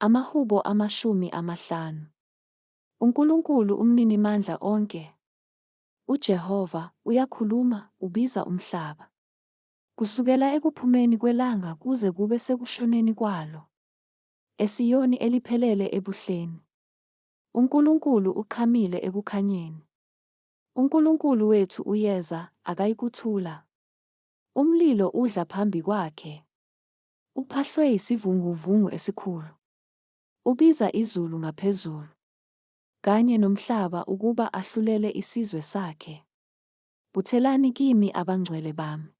Amahubo amashumi amahlanu. UNkulunkulu uMninimandla onke, uJehova, uyakhuluma, ubiza umhlaba. Kusukela ekuphumeni kwelanga kuze kube sekushoneni kwalo, eSiyoni eliphelele ebuhleni, uNkulunkulu uqhamile ekukhanyeni. UNkulunkulu wethu uyeza, akayikuthula. Umlilo udla phambi kwakhe. Uphahlwe yisivunguvungu esikhulu. Ubiza izulu ngaphezulu. Kanye nomhlaba ukuba ahlulele isizwe sakhe. Buthelani kimi abangcwele bami.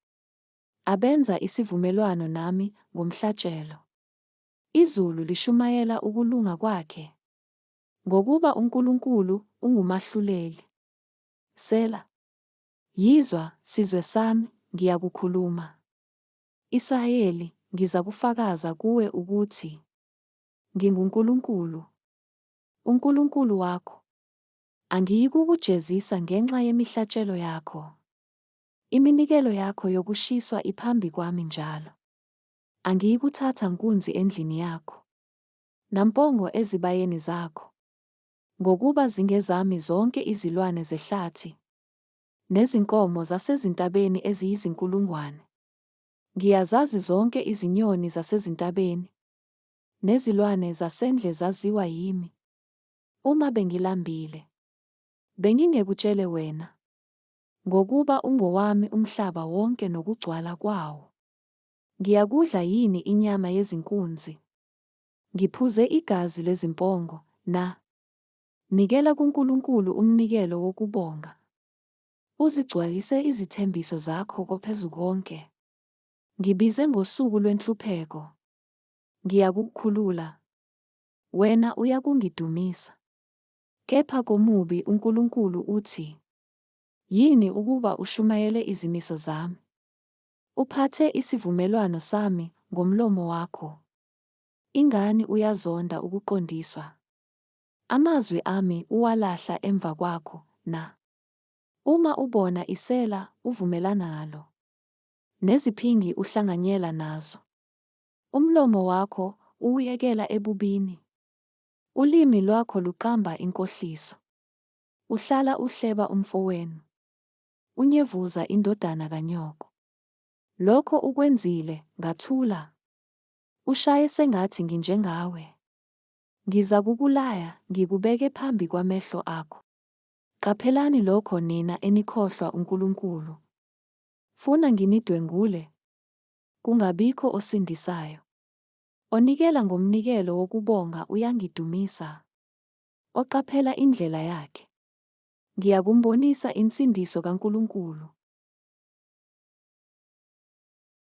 Abenza isivumelwano nami ngomhlatshelo. Izulu lishumayela ukulunga kwakhe. Ngokuba uNkulunkulu ungumahluleli. Sela. Yizwa, sizwe sami, ngiyakukhuluma. Israyeli, ngizakufakaza kuwe ukuthi nginguNkulunkulu, uNkulunkulu wakho, angiyikukujezisa ngenxa yemihlatshelo yakho. Iminikelo yakho yokushiswa iphambi kwami njalo. Angiyikuthatha nkunzi endlini yakho, nampongo ezibayeni zakho, ngokuba zingezami zonke izilwane zehlathi, Nezinkomo zasezintabeni eziyizinkulungwane. Ngiyazazi zonke izinyoni zasezintabeni. Nezilwane zasendle zaziwa yimi. Uma bengilambile. Bengingekutshele wena. Ngokuba ungowami umhlaba wonke nokugcwala kwawo. Ngiyakudla yini inyama yezinkunzi? Ngiphuze igazi lezimpongo na? Nikela kuNkulunkulu umnikelo wokubonga. Uzigcwalise izithembiso zakho koPhezukonke. Ngibize ngosuku lwenhlupheko. Ngiyakukukhulula. Wena uyakungidumisa. Kepha komubi uNkulunkulu uthi, Yini ukuba ushumayele izimiso zami? Uphathe isivumelwano sami ngomlomo wakho. Ingani uyazonda ukuqondiswa? Amazwi ami uwalahla emva kwakho na? Uma ubona isela, uvumelana nalo, neziphingi uhlanganyela nazo. Umlomo wakho uwuyekela ebubini, ulimi lwakho luqamba inkohliso. Uhlala uhleba umfowenu, unyevuza indodana kanyoko. Lokho ukwenzile, ngathula. Ushaye sengathi nginjengawe. Ngizakukulaya, ngikubeke phambi kwamehlo akho. Qaphelani lokho nina enikhohlwa uNkulunkulu. Funa nginidwengule? Kungabikho osindisayo. Onikela ngomnikelo wokubonga uyangidumisa, oqaphela indlela yakhe. Ngiyakumbonisa insindiso kaNkulunkulu.